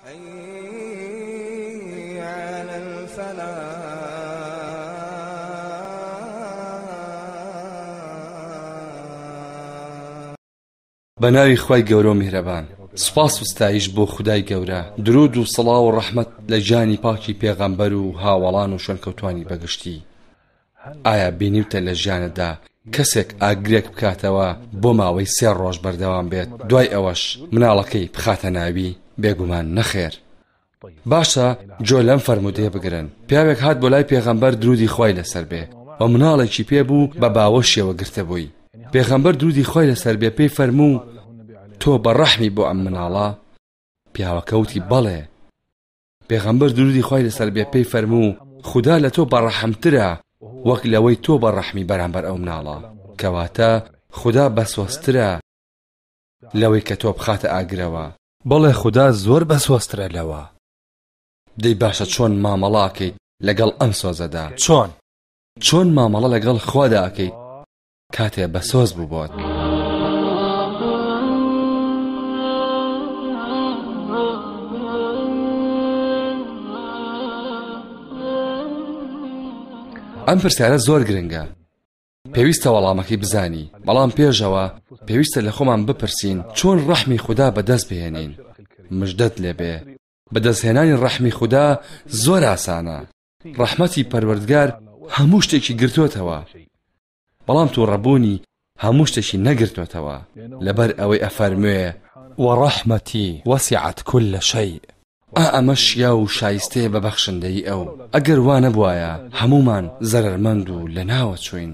حی علی الفلاح بەناوی خوای گەورەو میهرەبان سوپاس و ستایش بۆ خودای گەورە درود و سڵاو و ڕەحمەت لە گیانی پاکی پێغەمبەر و هاوەڵان و شوێنکەوتوانی بەگشتی ئایا بینیوتە لە ژیانتدا کەسێک ئاگرێک بکاتەوە بۆ ماوەی سێ ڕۆژ بەردەوام بێت دوای ئەوەش مناڵەکەی بخاتە ناوی؟ بێگومان نەخێر. باشە گوێ لەم فەرموودەیە بگرن، پیاوێک هات بۆ لای پێغەمبەر درودی خوای لەسەر بێ و مناڵێکی پێ بوو بە باوەشیەوە گرتبووی، پێغەمبەر درودی خوای لەسەر بێ پێی فەرموو، تۆ بە ڕەحمی بۆ ئەم مناڵە؟ پیاوەکە وتی، بەڵێ. پێغەمبەر درودی خوای لەسەر بێ پێی فەرموو خودا لە تۆ بەڕەحمترە وەک لەوەی تۆ بە ڕەحمی بەرامبەر ئەو مناڵە کەواتە خودا بەسۆزترە لەوەی کە تۆ بخاتە ئاگرەوە بەڵێ خودا زۆر بەسۆزترە لەوە دەی باشە چۆن مامەڵاکەیت لەگەڵ ئەم سۆزەدا چۆن چۆن مامەڵە لەگەڵ خوادا ئەکەیت کاتێ بە سۆز بوو بۆت. ئەم پرسیارە زۆر گرنگە پێویستە وەڵامەکەی بزانی بەڵام پێشەوە پێویستە لە خۆمان بپرسین چۆن ڕەحمی خوددا بەدەست بهێنین مژدەت لێبێ بەدەستهێنانی ڕەحمی خوددا زۆر ئاسانە ڕەحمەتی پەروەردگار هەموو شتێکی گرتوتەوە بەڵام تو ڕەبوونی هەموو شتێکی نەگرتوتەوە لەبەر ئەوەی ئەفەرموێ وەڕەحمەتی وەسیعەت کل لە شەی ئا ئەمە شیا و شایستەیە بە بەخشندەی ئەو ئەگەر وانەبواە هەمومان زەرەرمەند و لە ناوە چوین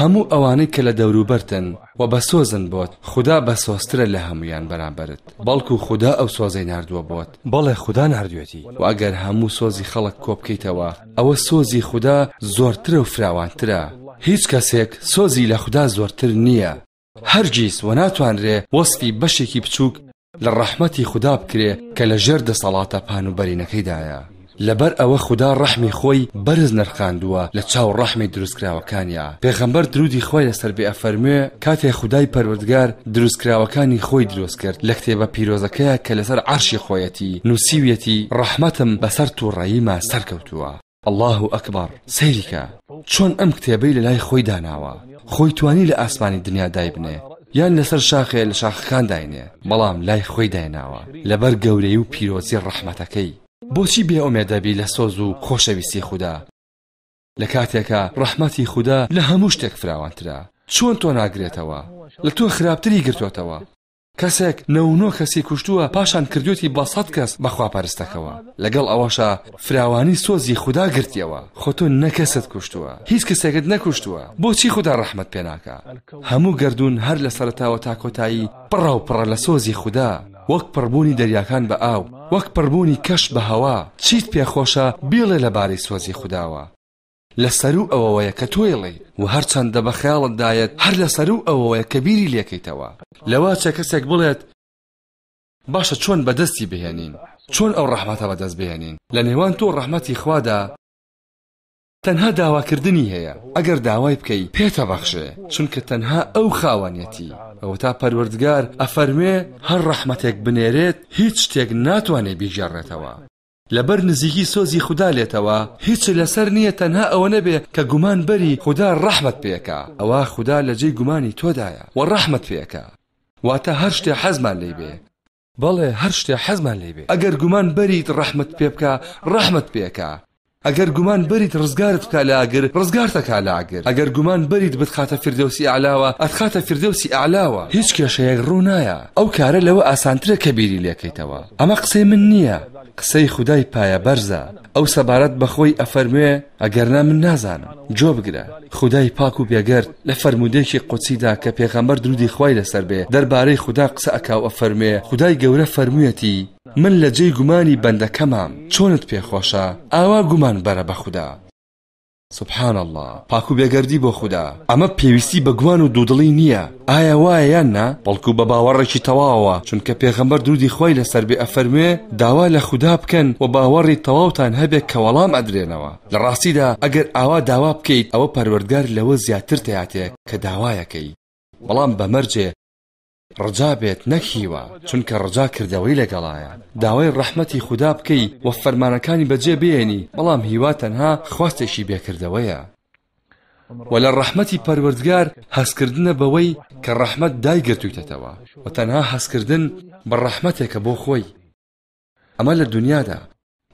هەموو ئەوانەی کە لە دەوروبەرتن و بەسۆزن بۆت، خودا بەسۆزترە لە هەموویان بەرامبەرت، بەڵکو خودا ئەو سۆزەی ناردووە بۆت، بەڵێ خودا ناردوێتی، وە ئەگەر هەموو سۆزی خەڵک کۆبکەیتەوە ئەوە سۆزی خودا زۆرترە و فراوانترە، هیچ کەسێک سۆزی لە خودا زۆرتر نییە. هەرگیز وە ناتوانرێ وەسفی بەشێکی بچووک لە ڕەحمەتی خودا بکرێ کە لە ژێر دەسەڵاتە پان و بەرینەکەیدایە لەبەر ئەوە خودا ڕەحمی خۆی بەرز نرخاندووە لە چاو ڕەحمی دروستکراوەکانیا پێغەمبەر درودی خۆی لەسەر بێ ئەفەرموێ کاتێ خودای پەروەردگار دروستکراوەکانی خۆی دروست کرد لە کتێبە پیرۆزەکەیە کە لەسەر عەرشی خۆیەتی نووسیویەتی ڕەحمەتم بەسەر تووڕەیما سەرکەوتووە اللە اکبر سەیری کە چۆن ئەم کتێبەی لەلای خۆی داناوە خۆی توانی لە ئاسمانی دنیا دایبنێ یان لەسەر شاخێ لە شاخەکان داینێ بەڵام لای خۆی دایناوە لەبەر گەورەی و پیرۆزی ڕەحمەتەکەی بۆچی بێ ئۆمێ دەبی لە سۆز و خۆشەویستی خودا لە کاتێکە ڕەحمەتی خودا لە هەموو شتێک فراوانترە چۆن تۆ ناگرێتەوە لە تۆ خراپتری گرتوتەوە کەسێک نۆ و نۆ کەسی کوشتووە پاشان کردوێتی بە سەد کەس بە خواپەرستەکەوە لەگەڵ ئەوەشە فراوانی سۆزی خوددا گرتیەوە خۆ تۆ نە کەست کوشتووە هیچ کەسێکت نەکوشتووە بۆچی خوددا ڕەحمەت پێ ناکا هەموو گردون هەر لە سەرتاوە تا کۆتایی پڕە و پڕە لە سۆزی خوددا وەک پڕبوونی دەریاکان بە ئاو وەک پڕبوونی کەش بە هەوا چیت پێخۆشە بیڵێ لەبارەی سۆزی خودداوە لە سەروو ئەوەوەیە کە تۆیڵێی و هەرچەندە بە خەیاڵت دایەت هەر لە سەروو ئەوەوەیە کە بیری لێکەیتەوە لەوە چە کەسێک بڵێت باشە چۆن بەدەستی بهێنین چۆن ئەو ڕەحمەتە بەدەست بهێنین لە نێوان تۆ ڕەحمەتی خوادا تەنها داواکردنی هەیە ئەگەر داوای بکەی پێتە بەخشێ چونکە تەنها ئەو خاوەنەتی ئەوە تا پەروەردگار ئەفەرمێ هەر ڕەحمەتێک بنێرێت هیچ شتێک ناتوانێ بیگێڕێتەوە لەبەر نزیکی سۆزی خودا لێتەوە هیچت لەسەر نییە تەنها ئەوەنە بێ کە گومان بەری خودا ڕەحمت پێکا ئەوا خودا لە جێی گومانی تۆدایە وە ڕەحمت پێکا واتە هەر شتێ حەزمان لێی بێ بەڵێ هەر شتێ حەزمان لێی بێ ئەگەر گومان بەریت ڕەحمت پێ بکا ڕەحمت پێکا ئەگەر گومان بەریت ڕزگارت بکا لە ئاگر ڕزگارتەکا لە ئاگر ئەگەر گومان بەریت بتخاتە فردەوسی ئەعلاوە ئەتخاتە فردەوسی ئەعلاوە هیچ کێشەیەک ڕوو نایە ئەو کارە لەوە ئاسانترە کە بیری لێکەیتەوە ئەمە قسەی من نیە قسەی خودای پایە بەرزە ئەو سەبارەت بەخۆی ئەفەرموێ ئەگەرنا من نازانم گۆێ بگرە خودای پاک و بێگەرد لە فەرموودەێکی قودسیدا کە پێغەمبەر درودی خوای لەسەر بێ دەربارەی خودا قسە ئەکاو ئەفەرموێ خودای گەورە فەرموویەتی من لە جێی گومانی بەندەکەمام چۆنت پێ خۆشە ئاوا گومان بەرە بە خودا. سبحان اللە پاکو بێگەردی بۆ خودا ئەمە پێویستی بە گومان و دوودڵی نییە ئایا وایە یان نا بەڵکو بە باوەڕێکی تەواوە چونکە پێغەمبەر درودی خۆی لەسەر بێ ئەفەرموێ داوا لە خودا بکەن و باوەڕی تەواوتان هەبێت کە وەڵام ئەدرێنەوە لە ڕاستیدا ئەگەر ئاوا داوا بکەیت ئەوە پەروەردگار لەوە زیاتر تیاتێ کە داوایەکەی بەڵام بە مەرجێ ڕجا بێت نەک هیوا چونکە ڕجا کردەوەی لەگەڵایە داوای ڕەحمەتی خودا بکەی و فەرمانەکانی بەجێ بێنی بەڵام هیوا تەنها خواستێکی بێ کردەوەیە وە لە ڕەحمەتی پەروەردگار هەستکردنە بەوەی کە ڕەحمەت دایگرتوویتەتەوە وە تەنها هەستکردن بە ڕەحمەتێکە بۆ خۆی ئەمە لە دونیادا،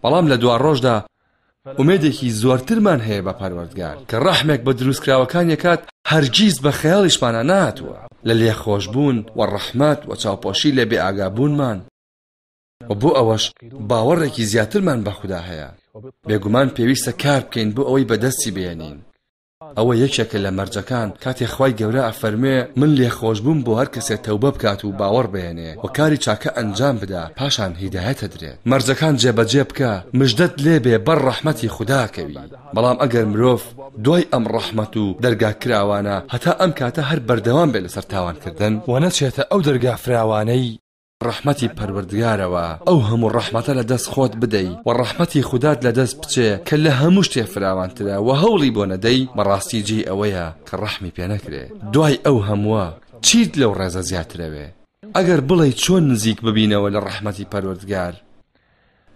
بەڵام لە دواڕۆژدا ئومێدێکی زۆرترمان هەیە بە پەروەردگار کە ڕەحمێک بە دروستکراوەکانی ئەکات هەرگیز بە خەیاڵیشمانا نەهاتووە لە لێخۆشبوون و ڕەحمەت و چاوپۆشی لە بێئاگابوونمان و بۆ ئەوەش باوەڕێکی زیاترمان بە خودا هەیە بێگومان پێویستە کار بکەین بۆ ئەوەی بەدەستی بێنین ئەوە یەکێکە لە مەرجەکان کاتێ خوای گەورە ئەفەرموێ من لێخۆشبووم بۆ هەر کەسێ تەوبە بکات و باوەڕ بێنێ و کاری چاکە ئەنجام بدا پاشان هیدایەت ئەدرێت مەرجەکان جێبەجێ بکە مژدەت لێ بێ بەر ڕەحمەتی خودا کەوی بەڵام ئەگەر مرۆڤ دوای ئەم ڕەحمەت و دەرگا کراوانە هەتا ئەم کاتە هەر بەردەوام بێ لەسەر تاوان کردن و نەچێتە ئەو دەرگا فراوانەی ڕەحمەتی پەروەردگارەوە ئەو هەموو ڕەحمەتە لە دەست خۆت بدەی و ڕەحمەتی خودات لە دەست بچێ کە لە هەموو شتێ فراوانترە و هەوڵی بۆ نەدەی بەڕاستی جێی ئەوەیە کە ڕەحمی پێ نەکرێ دوای ئەو هەمووە چیت لەو ڕێزە زیاترەوێ ئەگەر بڵێی چۆن نزیک ببینەوە لە ڕەحمەتی پەروەردگار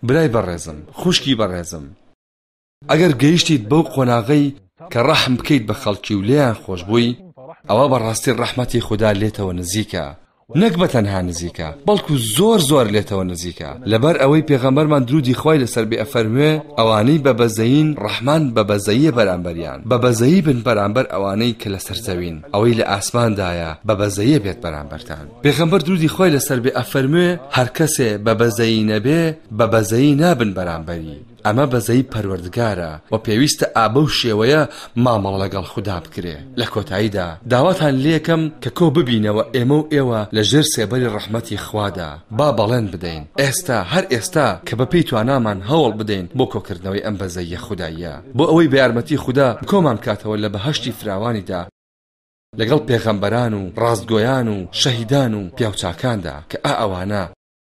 برای بەڕێزم خوشکی بەڕێزم ئەگەر گەیشتیت بەو قۆناغەی کە ڕەحم بکەیت بە خەڵکی و لێیان خۆش بووی ئەوە بەڕاستی ڕەحمەتی خوددا لێتەوە نزیکە نەک بە تەنها نزیکە بەڵکو زۆر زۆر لێتەوە نزیکە لەبەر ئەوەی پێغەمبەرمان درودی خی لەسەر بێ ئەفەرموێ ئەوانەی بە بەزەین ڕەحمان بە بەزەیە بەرامبەریان بە بەزەیی بن بەرامبەر ئەوانەی کە لەسەر زەوین ئەوەی لە ئاسماندایە بە بەزەیە بێت بەرامبەرتان پێغەمبەر درودی خی لەسەر بێ ئەفەرموێ هەر کەسێ بە بەزەیی نەبێ بە بەزەیی نابن بەرامبەری ئەمە بەزەیی پەروەردگارە و پێویستە ئابەو شێوەیە مامەڵە لەگەڵ خودا بکرێ لە کۆتاییدا داواتان لێکەم کە کۆ ببینەوە ئێمە و ئێوە لە ژێر سێبەری ڕەحمەتی خوادا با بەڵێن بدەین ئێستا هەر ئێستا کە بە پێی توانامان هەوڵ بدەین بۆ کۆکردنەوەی ئەم بەزەییە خوداییە بۆ ئەوەی بە یارمەتی خودا کۆمان بکاتەوە لە بەهەشتی فراوانیدا لەگەڵ پێغەمبەران و ڕاستگۆیان و شەهیدان و پیاوچاکاندا کە ئا ئەوانە